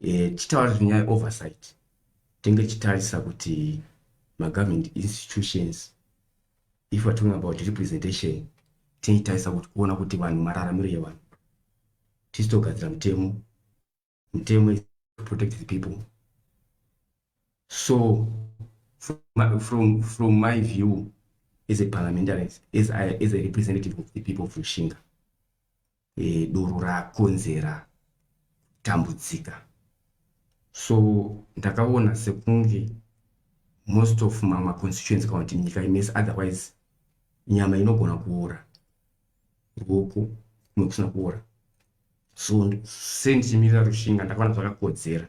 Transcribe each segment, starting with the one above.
e, tichitaura zvenyaya oversight tinge tichitarisa kuti magovernment institutions if we're talking about representation tinoitarisa kuti kuona kuti vanhu mararamiro yevanhu tisitogadzira mutemo mutemo protect the people So from my, from, from my view as a parliamentarians, as, I, as a representative of the people of Rushinga, e, doro rakonzera tambudzika. So ndakaona sekunge most of mama constituents kana kuti nyika imese otherwise nyama inogona kuora ruoko nokusina kuora so sendichimirira rushinga ndakaona zvakakodzera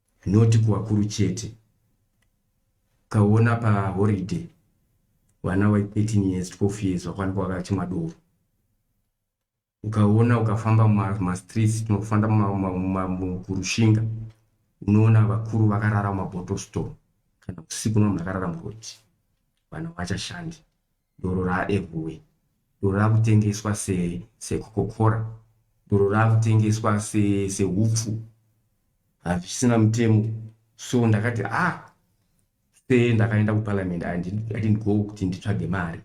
not kuvakuru chete ukaona pahoriday vana wa 13 years 12 years vakwanikwa vakachimwa doro ukaona ukafamba mumastreets tinofanda kurushinga unoona vakuru vakarara mumabottle store kana usiku unoona vakarara muroti vanhu vachashandi doro raEvue, doro rakutengeswa se sekokokora, doro rakutengeswa se sehupfu hazvisina mutemo. So ndakati ah se ndakaenda kuparliament I didn't, I didn't go kuti nditsvage mari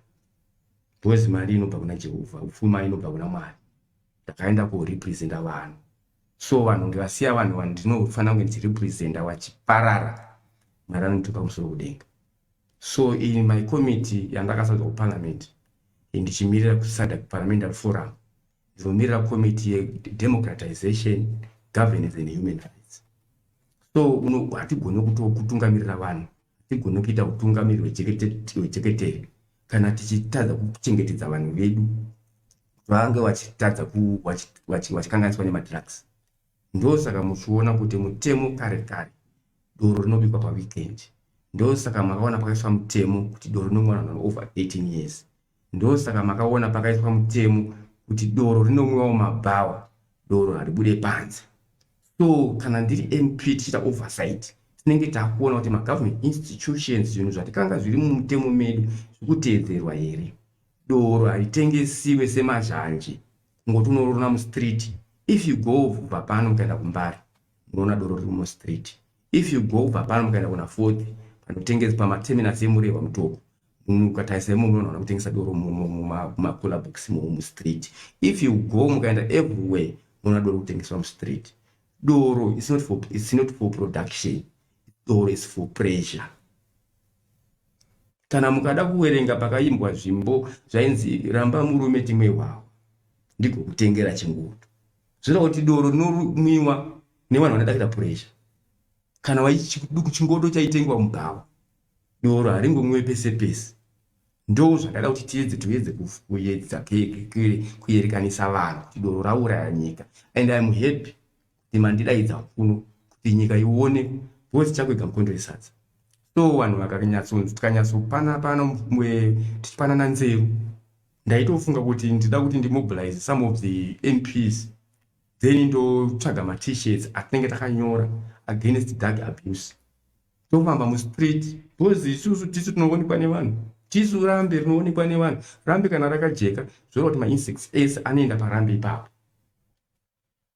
because mari inobva kuna Jehovha, upfuma inobva kuna Mwari. Ndakaenda korepresenta vanhu so vanhu ndivasiya vanhu vanhu ndinofanira kunge ndichirepresenta wachiparara mwari anotipa musoro kudenga So in my committee yandakasarudzwa kuparliament ndichimirira kusada kuparliamentary forum ndinomirira committee yedemocratization governance and human rights so hatigone kutokutungamirira vanhu hatigone kuita utungamiri hwecheketere kana tichitadza kuchengetedza vanhu vedu vange vachitadza vachikanganiswa nemadrugs Ndosaka muchiona kuti mutemo kare kare doro rinobikwa paweekend. Ndosaka makaona pakaiswa mutemo kuti doro rinomwiwa vanhu vane over 18 years. Ndosaka makaona pakaiswa mutemo kuti doro rinomwiwa mumabhawa, doro haribude panze. So kana ndiri MP tichiita oversight tinenge takuona kuti magovernment institutions zvinhu zvatikanga zviri mumutemo medu zviri kuteedzerwa here. Doro haritengesiwe semazhanje kungoti unorona mustreet if you go kubva pano mukaenda kumbari munoona doro riri mustreet if you go kubva pano mukaenda kuna fourth panotengesa pamaterminus emurehwa mutoko mukatarisa imomo munoona kutengesa doro mumakula box mumustreet if you go mukaenda everywhere munoona doro kutengeswa mustreet doro is not for, is not for production doro is for pressure kana mukada kuwerenga pakaimbwa zvimbo zvainzi ramba murume timwe hwawo ndiko kutengera chingudu zvireva kuti doro rinomwiwa nevanhu vanodakira puresha kana chingodo chaitengwa mubhawa doro haringomwiwe pese pese ndo zvakada kuti tiedze toedze kuyedza kuyerekanisa vanhu kuti doro rauraya nyika and im happy kuti mandidaidza kuno kuti nyika ione bozi chakwega mukondo yesadza so vanhu vakanyatsonzi tikanyatsopana pano tichipanana nzeru ndaitofunga kuti ndida kuti ndimobilize some of the mps then ndotsvaga matishirts atinenge takanyora against dark abuse tofamba mustreet bcoz isusu tisu tinoonekwa nevanhu tisu rambe rinoonekwa nevanhu rambe kana rakajeka zvoreva kuti mainsects ese anoenda parambe ipapo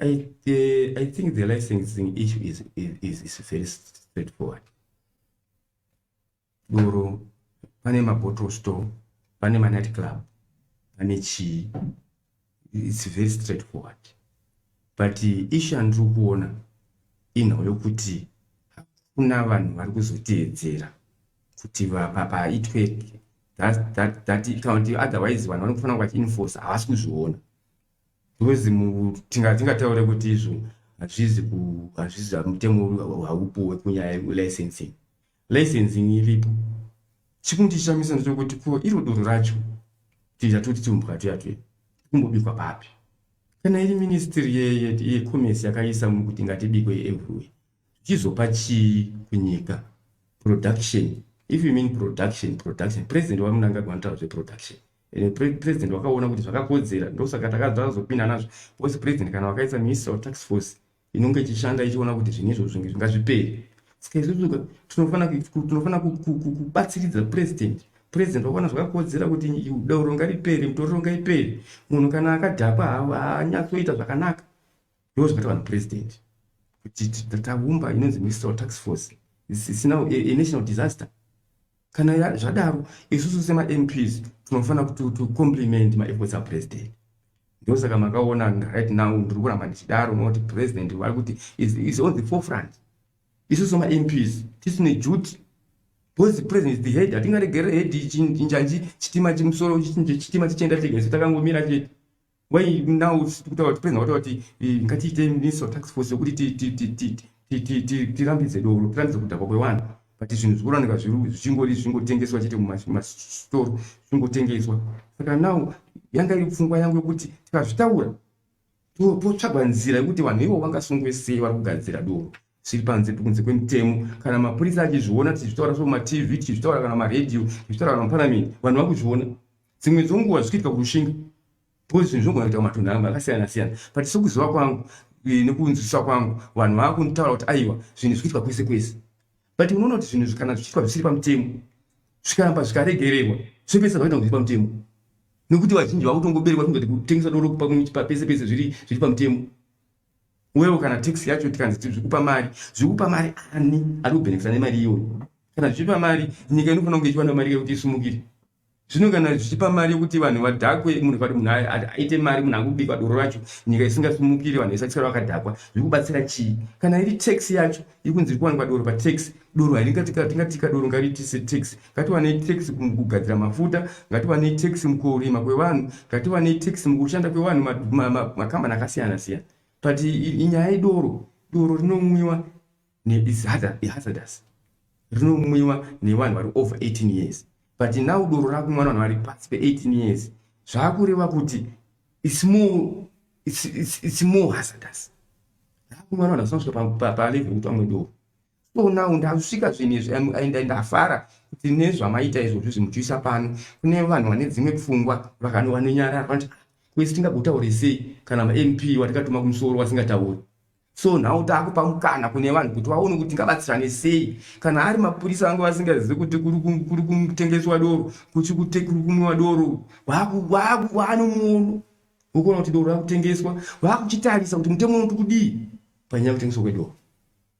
I, uh, I think the licensing issue is, is, is very straightforward. Doro, pane mabottle store, pane manight club, pane chii. It's very straightforward. But uh, issue andiri kuona inhau yokuti hakuna vanhu vari kuzoteedzera kuti paitwe that, that, that, otherwise vanhu vanofanira kuti vachiinforce havasi kuzviona Because tingataure kuti izvo hazvizi hazvizi mutemo haupuwe kunyaya yelicensing. Licensing iripo. Chikundishamisa ndechokuti ko iro doro racho tiita toti tiumbwa tuya tuya kumbobikwa papi? Kana iri ministry yecommerce yakaisa mukuti ngatibikwe everywhere chizopa chii kunyika production if you mean production production president wamunangagwa anotaura zveproduction and president wakaona kuti zvakakodzera ndosaka takazopinda nazvo because president kana wakaisa minister tax force inonge ichishanda ichiona kuti zvinhu izvo zvinge zvingazviperi saka izvozvo tinofanira kubatsiridza president president wakaona zvakakodzera kuti dauro ngariperi mutoriro ngaiperi munhu kana akadhakwa haanyatsoita zvakanaka ndoo zvakaita vanhu president kuti taumba inonzi ministerial tax force isina a national disaster kana zvadaro isusu semamps tinofanira kuti ticompliment maefforts apresident ndosaka makaona right now ndiri kuramba ndichidaro nokuti president vari kuti is on the forefront isusu mamps tisine duty because president the head hatingaregere head chinjanji chitima chimusoro chitima chichienda chegese takangomira chete why now kutaura kuti penza wataura kuti ngatiite minister tax force yokuti tirambidze doro tirambidze kudhakwa kwevanhu but zvinhu zvikuraneka zvichingori zvingotengeswa chete mumastore zvingotengeswa saka now yanga iri pfungwa yangu yokuti tikazvitaura totsvagwa nzira yokuti vanhu ivo vangasungwe sei vari kugadzira doro zviri panze kunze kwemutemo kana mapurisa achizviona tichizvitaura so matv tichizvitaura kana maradio tichizvitaura kana mapanamini vanhu vakuzviona dzimwe dzonguva zvichiitika kurushinga bcause zvinhu zvinogona kuita kumatunhu angu akasiyana siyana but sokuziva kwangu eh, nekunzwisisa kwangu vanhu vava kunditaura kuti aiwa zvinhu zvikuitika kwese kwese but unoona kuti zvinhu kana zvichiitwa zvisiri pamutemo zvikaramba zvikaregererwa zvopesa zvakaita kuti zviri pamutemo nekuti vazhinji vakutongoberekwa kungati kutengesa doro pese pese zviri pamutemo Uyewo kana tax yacho tikanzi tiri zvikupa mari, zvikupa mari ani ari kubhenekisa nemari iyoyo? Kana zvichipa mari, nyika inofanira kunge ichiwana mari yekuti isumukire. Zvino kana zvichipa mari yekuti vanhu vadhakwe, munhu vati munhu aite mari, munhu akubikwa doro racho, nyika isingasumukire, vanhu vesatisara vakadhakwa, zvikubatsira chii? Kana iri tax yacho, ikunzi iri kuwanikwa doro patax, doro haringatika, tingatika doro ngariti setax. ngatiwanei tax mukugadzira mafuta ngatiwanei tax mukurima kwevanhu ngatiwanei tax mukushanda kwevanhu makambani akasiyana siyana but inyaya idoro doro rinomwiwa nehazardous rinomwiwa nevanhu vari over 18 years but now doro rakumwa vanhu vari pasi pe18 years zvaakureva kuti it's more, it's, it's, it's more hazardous rakumwa vanhu vasina kusvika palevel yekuti vamwe doro so now ndasvika zvinhu izvi and ndafara kuti nezvamaita izvozvi zvimuchiisa pano kune vanhu vane dzimwe pfungwa vanonyarara vanoti kwese tingagotaure sei kana mamp watikatuma kumusoro wasingatauri so nhau taakupa mukana kune vanhu kuti vaone kuti tingabatsirane sei kana ari mapurisa vange vasingazivi kuti kuri kutengeswa doro kuchi kuri kumwiwa doro vaanomuono vokuona kuti doro rakutengeswa vakuchitarisa kuti mutemo unoti kudii panyaya yekutengeswa kwedoro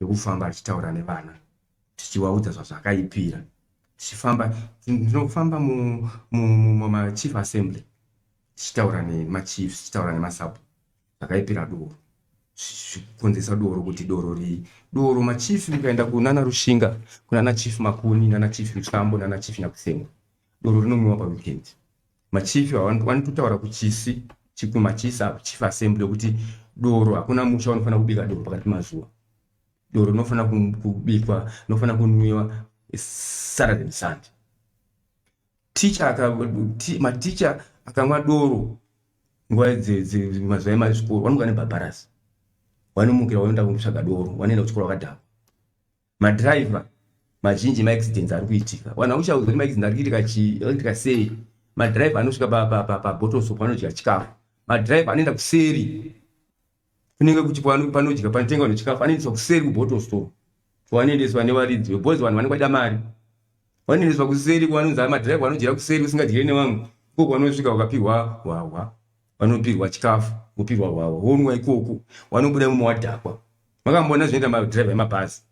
nekufamba achitaura nevana tichiwaudza zvazvakaipira tichifamba tinofamba mumachief assembly tichitaura nemachief tichitaura nemasabu zvakaipira doro zvikonzesa doro kuti doro rii doro machief mukaenda kunana rushinga kunana chief makuni nana chief msambo nana chief nyakusenga doro rinomwiwa paweekend Machief wani kutaura kuchisi chikuma chisi apo chief assembly kuti doro hakuna musha unofanira kubika doro pakati mazuva doro rinofanira kubikwa rinofanira kunwiwa saturday nesunday maticha akamwa doro nguva mazuva emazvikoro wanoga nebhabharasi wanomukira waenda kunotsvaga doro wanoenda kuchikoro wakadhakwa madriver mazhinji maaccidents ari kuitika vanhu vakushauza kuti maaccident ari kuitika chii akuitika sei madrive anosvika pabotoso panodya chikafu madrive anoenda kuseri kunenge kuti panodya panotenga vanhu chikafu anoendeswa kuseri kubotoso kwavanoendeswa nevaridzi vebozi vanhu vanenge vaida mari vanoendeswa kuseri kwanonzi madrive vanodyira kuseri usingadyire nevamwe ko kwanosvika wakapihwa hwahwa vanopirwa chikafu vopirwa hwahwa wonwa ikoku wanobuda imwe wadhakwa makamboona zvinoita madriver emabhazi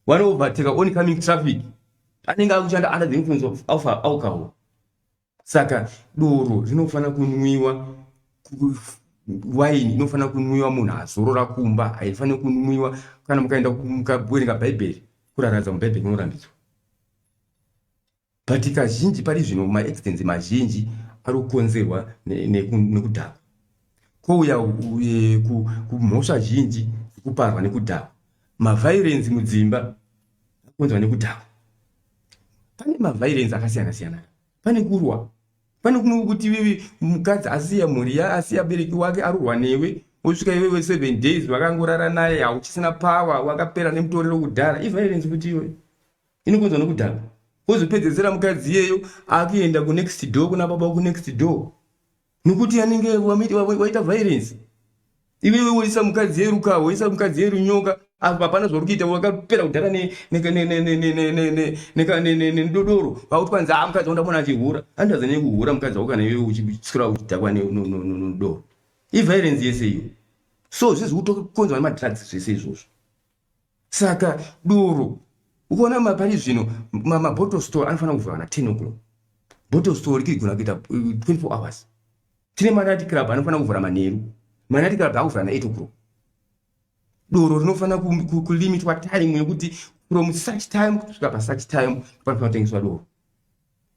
wanovateka on coming traffic anenge akushanda under the influence of alpha alcohol saka doro rinofanira kunwiwa waini inofanira kunwiwa munhu azorora kumba haifaniri kunwiwa kana mukaenda mukawerenga bhaibheri kuraradza mubhaibheri munorambidzwa But kazhinji pari zvino maaccidents mazhinji ari kukonzerwa nekudhakwa kwouya e, kumhosva zhinji dzekuparwa nekudhakwa mavhairenzi mudzimba akonzwa nekudhakwa pane mavhairenzi akasiyana siyana pane kurwa pane kuno kuti iwewe mukadzi asiya mhuri ya asiya bereki wake arurwa newe wosvika iwewe seven days vakangorara naye hauchisina power wakapera nemutorero kudhara ivhairenzi kuti iwe inokonzwa nokudhakwa wozopedzesera mukadzi iyeyo akuenda kunext door kuna baba kunext door nokuti anenge waita violence iwewe woisa mukadzi yeruka woisa mukadzi yerunyoka apa hapana zvauri kuita wakapera kudhara nedodoro vakuti kwanzi a mukadzi wandamona achihura andaza nekuhura mukadzi wako kana iwewe uchiswera uchidhakwa nedoro iviolence yese iyo so zvizi kutokonzwa nemadrugs zvese izvozvo saka doro ukaona mapari zvino mabottle store anofanira kuvhura kana 10 o'clock bottle store rikigona kuita 24 uh, hours tine manati club anofanira kuvhura manheru manati club akuvhura na 8 o'clock doro rinofanira kulimitwa time yekuti from such time kusvika pasuch time panofanira kutengeswa doro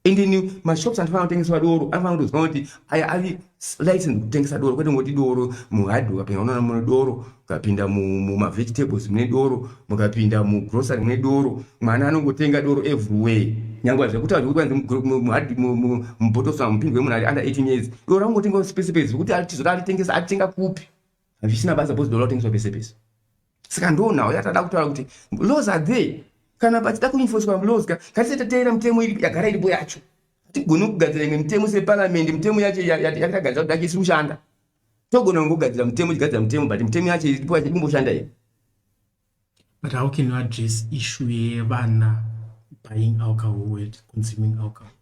endeni mashops anofana kutengeswa doro anofana kutoziva kuti aya avi license kutengesa doro kwete ngoti doro muhard ukapinda unoona mune doro ukapinda mumavegetables mune doro mukapinda mugrocery mune doro mwana anongotenga doro everywhere nyangwe zvekutaura zvekuti mubotosi mupindwe munhu ari under 18 years doro anongotenga pese pese zvekuti atizoti atitengesa atitenga kupi hazvisina basa bcause doro akutengeswa pese pese saka ndoonawo yatada kutaura kuti laws are there kana pachida kuinfoswa laws ka katisati tateera mitemo yagara iripo yacho hatigoni kugadzira imwe mitemo separamendi mitemo yacho yatagadzira kuti yacho isiri kushanda togona kungogadzira mutemo chigadzira mutemo but mutemo yacho iripo yacho ikumboshanda here but how can you address issue yevana buying alcohol wet consuming alcohol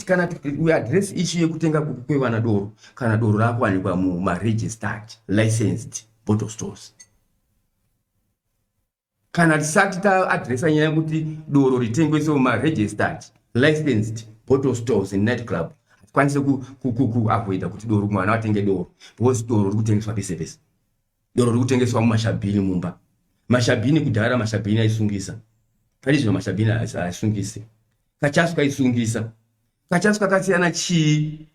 kana uaddress issue yekutenga kwevana doro kana doro rakuwanikwa mumaregistered licensed bottle stores kana tisati taadresa nyaya yekuti doro ritengwese mumaregistered licensed bottle stores in night club hatikwanise kuavoida kuti doro mwana atenge doro because doro riri kutengeswa pese pese doro riri kutengeswa mumashabhini mumba mashabhini kudhara mashabhini aisungisa pane zvino mashabhini aisungise kachasu kaisungisa Kachasi kakasiyana chii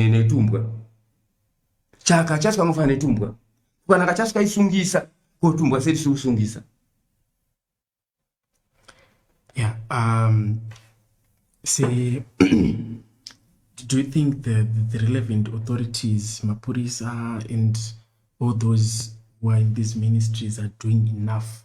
netumbwa? Chaka chasi kangofana netumbwa. Kana kachasi kaisungisa ko tumbwa sei tisiri kusungisa? Yeah, um, see, do you think the, the relevant authorities, Mapurisa and all those who are in these ministries are doing enough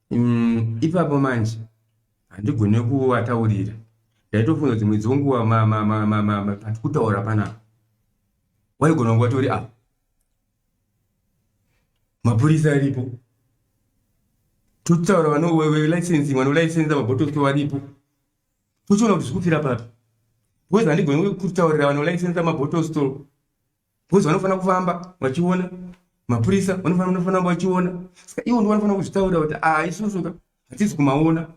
Mm, ipapo manje handigone kuvataurira ndaitofunga kuti mwedzi wenguva pati kutaura panapa waigona kunge watori apa mapurisa aripo totaura vanolicensi mwana ulicensa mabotosi varipo tochiona kuti zvikufira papi because handigoni kutaurira vanolicensa mabotostol Because vanofanira kufamba vachiona mapurisa vanofanira vanofanira kufamba vachiona saka ivo ndo vanofanira kuzvitaurira kuti ah isusu ka hatizi kumaona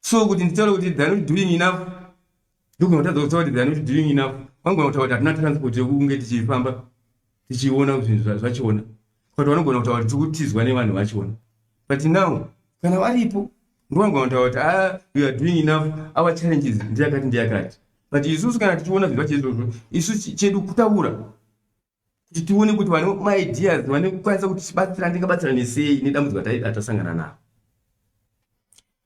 so kuti nditaure kuti they are not doing enough ndogona kutadza kutaura kuti they are not doing enough vangona kutaura kuti hatina transport yokunge tichifamba tichiona kuti zvinhu zvachona but vanogona kutaura kuti tikutizwa nevanhu vachona but now kana varipo ndovanogona kutaura kuti ah, we are doing enough our challenges ndeyakati ndeyakati but isusu kana tichiona zvinhu zvacheizvozvo isu chedu kutaura kuti tione kuti vane maideas vane kukwanisa kuti tibatsira ndingabatsira nesei nedambudziko atasangana navo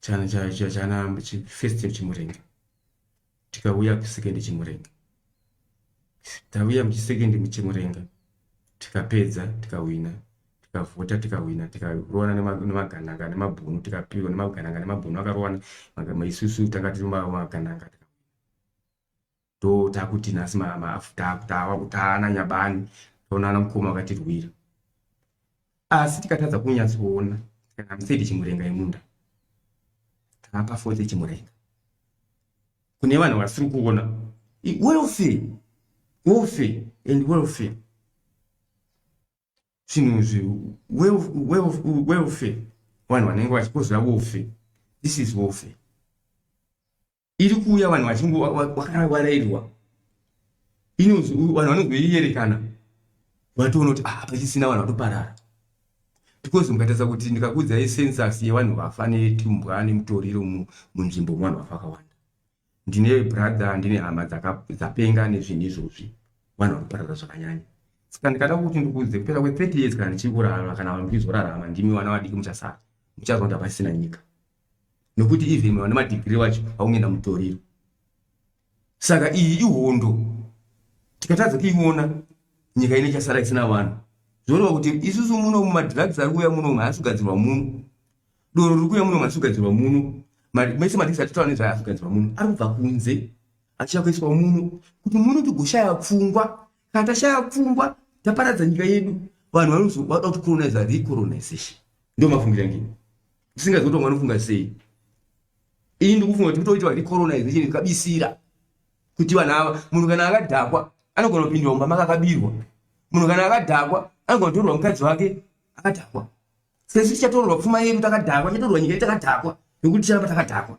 chana cha cha chana chi first year chimurenga tikauya ku second chimurenga tauya mu second mu chimurenga tikapedza tikawina tikavhota tikawina tikarowana nemagananga nemabhunu tikapiwa nemagananga nemabhunu akarowana isusu tanga tiri magananga do takuti nhasi mama afutava kutana nyabani taonana mukoma akatirwira asi tikatadza kunyatsoona kana museti chimurenga imunda taapa fote chimurenga kune vanhu vasiri kuona welfare welfare and welfare zvinhu izvi welfare vanhu vanenge vachikozvira welfare this is welfare iri kuuya vanhu vachingo vakarairwa inozi vanhu vanongoierekana vatoona kuti ah pachisina vanhu vatoparara because mukatadza kuti ndikakuudza yesensus yevanhu vafa netumbwa nemutoriro munzvimbo muvanhu vafa vakawanda ndine brother ndine hama dzapenga nezvinhu izvozvi vanhu vanoparara zvakanyanya saka ndikada kuti ndikuudze kupera kwe 30 years kana ndichiri kurarama kana vanhu ndizorarama ndimi vana vadiki muchasara muchaziva kuti hapasisina nyika nokuti even vana madigiri wacho vakungoenda mutoriro saka iyi ihondo tikatadza kuiona nyika ine chasara isina vanhu zvoreva kuti isusu muno mumadrugs ari kuuya muno haasi kugadzirwa muno doro riri kuuya muno haasi kugadzirwa muno mese madrugs atitaura nezvayo haasi kugadzirwa muno ari kubva kunze achiya kuiswa muno kuti muno tigoshaya pfungwa kana tashaya pfungwa taparadza nyika yedu vanhu vanozoda kuti colonize recolonization ndio mafungiro angini ndisingazi kuti vamwe vanofunga sei ini ndikufunga kuti kutoitwa recolonization ikabisira kuti vanhu ava munhu kana akadhakwa anogona kupindwa mumba maka akabirwa munhu kana akadhakwa anogona kutorwa mukadzi wake akadhakwa sezvo tichatorwa pfuma yedu takadhakwa tichatorwa nyika yedu takadhakwa nekuti ticharamba takadhakwa